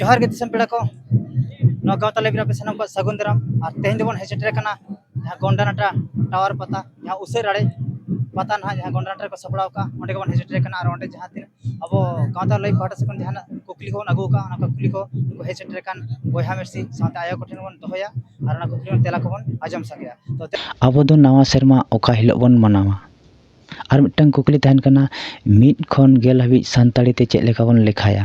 ᱡᱚᱦᱟᱨ ᱜᱮ ᱫᱤᱥᱚᱢ ᱯᱮᱲᱟ ᱠᱚ ᱱᱚᱣᱟ ᱜᱟᱶᱛᱟ ᱞᱟᱭᱵᱨᱮᱨᱤ ᱟᱯᱮ ᱥᱟᱱᱟᱢ ᱠᱚᱣᱟᱜ ᱥᱟᱹᱜᱩᱱ ᱫᱟᱨᱟᱢ ᱟᱨ ᱛᱮᱦᱮᱧ ᱫᱚᱵᱚᱱ ᱦᱮᱡ ᱥᱮᱴᱮᱨ ᱟᱠᱟᱱᱟ ᱡᱟᱦᱟᱸ ᱜᱚᱱᱰᱟᱱᱟᱴᱟ ᱴᱟᱣᱟᱨ ᱯᱟᱛᱟ ᱡᱟᱦᱟᱸ ᱩᱥᱟᱹᱨ ᱟᱲᱮ ᱯᱟᱛᱟ ᱱᱟᱦᱟᱜ ᱡᱟᱦᱟᱸ ᱜᱚᱱᱰᱟᱱᱟᱴᱟ ᱨᱮᱠᱚ ᱥᱟᱯᱲᱟᱣ ᱠᱟᱜᱼᱟ ᱚᱸᱰᱮ ᱜᱮᱵᱚᱱ ᱦᱮᱡ ᱥᱮᱴᱮᱨ ᱠᱟᱱᱟ ᱟᱨ ᱚᱸᱰᱮ ᱡᱟᱦᱟᱸ ᱛᱤᱱᱟᱹᱜ ᱟᱵᱚ ᱜᱟᱶᱛᱟ ᱞᱟᱹᱭ ᱯᱟᱦᱴᱟ ᱥᱮᱫ ᱠᱷᱚᱱ ᱡᱟᱦᱟᱱᱟᱜ ᱠᱩᱠᱞᱤ ᱠᱚᱵᱚᱱ ᱟᱹᱜᱩ ᱠᱟᱜᱼᱟ ᱚᱱᱟ ᱠᱩᱠᱞᱤ ᱠᱚ ᱩᱱᱠᱩ ᱦᱮᱡ ᱥᱮᱴᱮᱨ ᱟᱠᱟᱱ ᱵᱚᱭᱦᱟ ᱢᱤᱥᱤ ᱥᱟᱶᱛᱮ ᱟᱭᱳ ᱠᱚᱴᱷᱮᱱ ᱵᱚᱱ ᱫᱚᱦᱚᱭᱟ ᱟᱨ ᱚᱱᱟ ᱠᱩᱠᱞᱤ ᱨᱮᱱᱟᱜ ᱛᱮᱞᱟ ᱠᱚᱵᱚᱱ ᱟᱸᱡᱚᱢ ᱥᱟᱸᱜᱮᱭᱟ ᱟᱵᱚ ᱫᱚ ᱱᱟᱣᱟ ᱥᱮᱨᱢᱟ ᱚᱠᱟ ᱦᱤᱞᱳᱜ ᱵᱚᱱ ᱢᱟᱱᱟᱣᱟ ᱟᱨ ᱢᱤᱫᱴᱟᱱ ᱠᱩᱠᱞᱤ ᱛᱟᱦᱮᱱ ᱠᱟᱱᱟ ᱢᱤᱫ ᱠᱷᱚᱱ ᱜᱮᱞ ᱦᱟᱹᱵᱤᱡ ᱥᱟᱱᱛᱟᱲᱤ ᱛᱮ ᱪᱮᱫ ᱞᱮᱠᱟ ᱵᱚᱱ ᱞᱮᱠᱷᱟᱭᱟ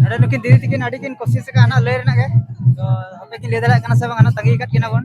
ᱱᱚᱰᱮ ᱱᱩᱠᱤᱱ ᱫᱤᱫᱤ ᱛᱤᱠᱤᱱ ᱟᱹᱰᱤ ᱠᱤᱱ ᱠᱳᱥᱤᱥ ᱟᱠᱟᱫ ᱦᱟᱱᱟ ᱞᱟᱹᱭ ᱨᱮᱱᱟᱜ ᱜᱮ ᱛᱚ ᱦᱟᱯᱮ ᱠᱤᱱ ᱞᱟᱹᱭ ᱫᱟᱲᱮᱭᱟᱜ ᱠᱟᱱᱟ ᱥᱮ ᱵᱟᱝ ᱦᱟᱱᱟ ᱛᱟᱺᱜᱤ ᱟᱠᱟᱫ ᱠᱤᱱᱟ ᱵᱚᱱ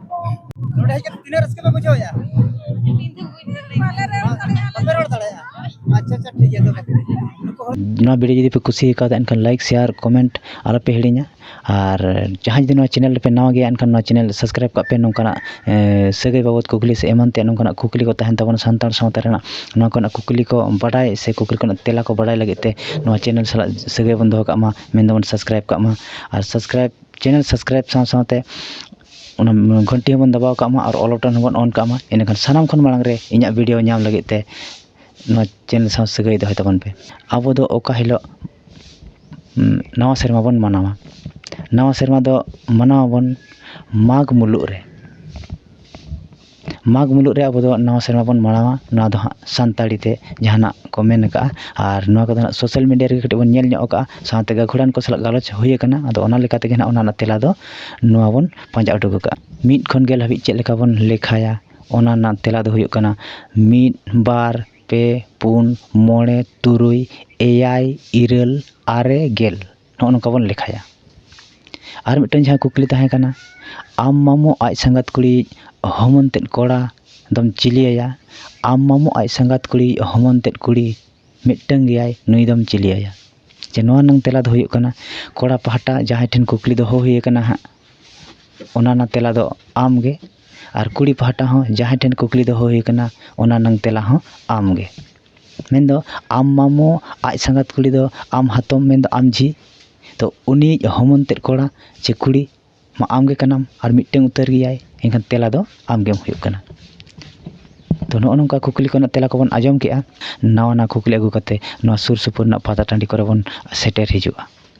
ᱱᱚᱰᱮ ᱦᱮᱡ ᱠᱟᱛᱮ ᱛᱤᱱᱟᱹᱜ ᱨᱟᱹᱥᱠᱟᱹ ᱯᱮ ᱵᱩᱡᱷᱟᱹᱣ ᱮᱜᱼᱟ? ᱵᱟᱯᱮ ᱨᱚᱲ ᱫᱟᱲᱮᱭᱟᱜᱼᱟ ᱟᱪᱪᱷᱟ ᱟᱪᱪᱷᱟ ᱴᱷᱤᱠ ᱜᱮᱭᱟ ᱛᱚᱵᱮ ᱱᱩᱠᱩ ᱦᱚᱲ ᱱᱚᱣᱟ ᱵᱷᱤᱰᱭᱳ ᱡᱩᱫᱤ ᱯᱮ ᱠᱩᱥᱤ ᱠᱟᱣᱫᱟ ᱮᱱᱠᱷᱟᱱ ᱞᱟᱭᱤᱠ ᱥᱮᱭᱟᱨ ᱠᱚᱢᱮᱱᱴ ᱟᱞᱚ ᱯᱮ ᱦᱤᱲᱤᱧᱟ ᱟᱨ ᱡᱟᱦᱟᱸᱭ ᱡᱩᱫᱤ ᱱᱚᱣᱟ ᱪᱮᱱᱮᱞ ᱨᱮᱯᱮ ᱱᱟᱣᱟ ᱜᱮᱭᱟ ᱮᱱᱠᱷᱟᱱ ᱱᱚᱣᱟ ᱪᱮᱱᱮᱞ ᱥᱟᱵᱥᱠᱨᱟᱭᱤᱵᱽ ᱠᱟᱜ ᱯᱮ ᱱᱚᱝᱠᱟᱱᱟᱜ ᱥᱟᱹᱜᱟᱹᱭ ᱵᱟᱵᱚᱫ ᱠᱩᱠᱞᱤ ᱥᱮ ᱮᱢᱟᱱ ᱛᱮᱭᱟᱜ ᱱᱚᱝᱠᱟᱱᱟᱜ ᱠᱩᱠᱞᱤ ᱠᱚ ᱛᱟᱦᱮᱱ ᱛᱟᱵᱚᱱᱟ ᱥᱟᱱᱛᱟᱲ ᱥᱟᱶᱛᱟ ᱨᱮᱱᱟᱜ ᱱᱚᱣᱟ ᱠᱚᱨᱮᱱᱟᱜ ᱠᱩᱠᱞᱤ ᱠᱚ ᱵᱟᱰᱟᱭ ᱥᱮ ᱠᱩᱠᱞᱤ ᱠᱚᱨᱮᱱᱟᱜ ᱛᱮᱞᱟ ᱠᱚ ᱵᱟᱰᱟᱭ ᱞᱟᱹᱜᱤᱫ ᱛᱮ ᱱᱚᱣᱟ ᱪᱮᱱᱮᱞ ᱥᱟᱞᱟᱜ ᱥᱟᱹᱜᱟᱹᱭ ᱵᱚᱱ ᱫᱚᱦᱚ ᱠᱟᱜ ᱢᱟ ᱢᱮᱱ ᱫᱚᱵᱚᱱ ᱥᱟᱵᱥᱠᱨᱟᱭᱤᱵᱽ ᱠᱟᱜ ᱢᱟ ᱟᱨ ᱥᱟᱵᱥᱠᱨᱟᱭᱤᱵᱽ ᱪᱮᱱᱮᱞ ᱥᱟᱵᱥᱠᱨᱟᱭᱤᱵᱽ ᱥᱟᱶ ᱥᱟᱶᱛᱮ ᱚᱱᱟ ᱜᱷᱚᱱᱴᱤ ᱦᱚᱸᱵᱚᱱ ᱫᱟᱵᱟᱣ ᱠᱟᱜ ᱢᱟ ᱟᱨ ᱚᱞ ᱵᱚᱴᱚᱱ ᱦᱚᱸᱵᱚᱱ ᱚᱱ ᱠᱟᱜ ᱢᱟ ᱮᱸᱰᱮᱠᱷᱟᱱ ᱥᱟᱱᱟᱢ ᱠᱷᱚᱱ ᱢᱟᱲᱟᱝ ᱨᱮ ᱤᱧᱟᱹᱜ ᱵᱷᱤᱰᱭᱳ ᱧᱟᱢ ᱞᱟᱹᱜᱤᱫ ᱛᱮ ᱱᱚᱣᱟ ᱪᱮᱱᱮᱞ ᱥᱟᱶ ᱥᱟᱹᱜᱟᱹᱭ ᱫᱚᱦᱚᱭ ᱛᱟᱵᱚᱱ ᱯᱮ ᱟᱵᱚ ᱫᱚ ᱚᱠᱟ ᱦᱤᱞᱳᱜ ᱱᱟᱣᱟ ᱥᱮᱨᱢᱟ ᱵᱚᱱ ᱢᱟᱱᱟᱣᱟ ᱱᱟᱣᱟ ᱥᱮᱨᱢᱟ ᱫᱚ ᱢᱟᱱᱟᱣ ᱟᱵᱚᱱ ᱢᱟᱜᱽ ᱢᱩᱞᱩᱜ ᱨᱮ ᱢᱟᱜᱽ ᱢᱩᱞᱩᱜ ᱨᱮ ᱟᱵᱚ ᱫᱚ ᱱᱟᱣᱟ ᱥᱮᱨᱢᱟ ᱵᱚᱱ ᱢᱟᱱᱟᱣᱟ ᱱᱚᱣᱟ ᱫᱚ ᱦᱟᱸᱜ ᱥᱟᱱᱛᱟᱲᱤ ᱛᱮ ᱡᱟᱦᱟᱱᱟᱜ ᱠᱚ ᱢᱮᱱ ᱠᱟᱜᱼᱟ ᱟᱨ ᱱᱚᱣᱟ ᱠᱚᱫᱚ ᱦᱟᱸᱜ ᱥᱳᱥᱟᱞ ᱢᱤᱰᱤᱭᱟ ᱨᱮᱜᱮ ᱠᱟᱹᱴᱤᱡ ᱵᱚᱱ ᱧᱮᱞ ᱧᱚᱜ ᱠᱟᱜᱼᱟ ᱥᱟᱶᱛᱮ ᱜᱟᱹᱠᱷᱩᱲᱟᱱ ᱠᱚ ᱥᱟᱞᱟᱜ ᱜᱟᱞᱚᱪ ᱦᱩᱭ ᱠᱟᱱᱟ ᱟᱫᱚ ᱚᱱᱟ ᱞᱮᱠᱟ ᱛᱮᱜᱮ ᱦᱟᱸᱜ ᱚᱱᱟ ᱨᱮᱱᱟᱜ ᱛᱮᱞᱟ ᱫᱚ ᱱᱚᱣᱟ ᱵᱚᱱ ᱯᱟᱸᱡᱟ ᱩᱰᱩᱠ ᱠᱟᱜᱼᱟ ᱢᱤᱫ ᱠᱷᱚᱱ ᱜᱮᱞ ᱦᱟᱹᱵᱤᱡ ᱪᱮᱫ ᱞᱮᱠᱟ ᱵᱚᱱ ᱞᱮᱠᱷᱟᱭᱟ ᱚᱱᱟ ᱨᱮᱱᱟᱜ ᱛᱮᱞᱟ ᱫᱚ ᱦᱩᱭᱩᱜ ᱠᱟᱱᱟ ᱢᱤᱫ ᱵᱟᱨ ᱯᱮ ᱯᱩᱱ ᱢᱚᱬᱮ ᱛᱩᱨᱩᱭ ᱮᱭᱟᱭ ᱤᱨᱟᱹᱞ ᱟᱨᱮ ᱜᱮᱞ ᱱᱚᱜᱼᱚ ᱱᱚᱝᱠᱟ ᱵᱚᱱ ᱞᱮᱠᱷᱟᱭᱟ ᱟᱨ ᱢᱤᱫᱴᱟᱝ ᱡᱟᱦᱟᱸ ᱠᱩᱠᱞᱤ ᱛᱟᱦᱮᱸ ᱠᱟᱱᱟ ᱟᱢ ᱢᱟᱢᱚ ᱟᱡ ᱥᱟᱸᱜᱟᱛ ᱠᱩᱲᱤᱭᱤᱡ ᱦᱚᱢᱚᱱ ᱛᱮᱫ ᱠᱚᱲᱟ ᱫᱚᱢ ᱪᱤᱞᱤ ᱟᱭᱟ ᱟᱢ ᱢᱟᱢᱚ ᱟᱡ ᱥᱟᱸᱜᱟᱛ ᱠᱩᱲᱤᱭᱤᱡ ᱦᱚᱢᱚᱱ ᱛᱮᱫ ᱠᱩᱲᱤ ᱢᱤᱫᱴᱟᱝ ᱜᱮᱭᱟᱭ ᱱᱩᱭ ᱫᱚᱢ ᱪᱤᱞᱤ ᱟᱭᱟ ᱡᱮ ᱱᱚᱣᱟ ᱨᱮᱱᱟᱝ ᱛᱮᱞᱟ ᱫᱚ ᱦᱩᱭᱩᱜ ᱠᱟᱱᱟ ᱠᱚᱲᱟ ᱯᱟᱦᱴᱟ ᱡᱟᱦᱟᱸᱭ ᱴᱷᱮᱱ ᱠᱩᱠᱞᱤ ᱫᱚᱦᱚ ᱦᱩᱭ ᱠᱟᱱᱟ ᱦᱟᱸᱜ ᱚᱱᱟ ᱨᱮᱱᱟᱜ ᱛᱮᱞᱟ ᱫᱚ ᱟᱢ ᱜᱮ ᱟᱨ ᱠᱩᱲᱤ ᱯᱟᱦᱴᱟ ᱦᱚᱸ ᱡᱟᱦᱟᱸᱭ ᱴᱷᱮᱱ ᱠᱩᱠᱞᱤ ᱫᱚᱦᱚ ᱦᱩᱭ ᱠᱟᱱᱟ ᱚᱱᱟ ᱨᱮᱱᱟᱝ ᱛᱮᱞᱟ ᱦᱚᱸ ᱟᱢ ᱜᱮ ᱢᱮᱱᱫᱚ ᱟᱢ ᱢᱟᱢᱚ ᱟᱡ ᱥᱟᱸᱜᱟᱛ ᱠᱩᱲᱤ ᱫᱚ ᱟᱢ ᱦᱟᱛᱚᱢ ᱢᱮᱱᱫᱚ ᱟᱢ ᱡᱷᱤ ᱛᱚ ᱩᱱᱤᱭᱤᱡ ᱦᱚᱢᱚᱱ ᱛᱮᱫ ᱠᱚᱲᱟ ᱪᱮ ᱠᱩᱲᱤ ᱢᱟ ᱟᱢ ᱜᱮ ᱠᱟᱱᱟᱢ ᱟᱨ ᱢᱤᱫᱴᱟᱹᱝ ᱩᱛᱟᱹᱨ ᱜᱮᱭᱟᱭ ᱮᱱᱠᱷᱟᱱ ᱛᱮᱞᱟ ᱫᱚ ᱟᱢ ᱜᱮᱢ ᱦᱩᱭᱩᱜ ᱠᱟᱱᱟ ᱛᱚ ᱱᱚᱜᱼᱚ ᱱᱚᱝᱠᱟ ᱠᱩᱠᱞᱤ ᱠᱚᱨᱮᱱᱟᱜ ᱛᱮᱞᱟ ᱠᱚᱵᱚᱱ ᱟᱸᱡᱚᱢ ᱠᱮᱜᱼᱟ ᱱᱟᱣᱟ ᱱᱟᱣᱟ ᱠᱩᱠᱞᱤ ᱟᱹᱜᱩ ᱠᱟᱛᱮ ᱱᱚᱣᱟ ᱥᱩᱨ ᱥᱩᱯᱩᱨ ᱨᱮᱱᱟᱜ ᱯᱟᱛᱟ ᱴᱟᱺᱰᱤ ᱠᱚᱨᱮ ᱵᱚᱱ ᱥᱮᱴᱮᱨ ᱦᱤᱡᱩᱜᱼᱟ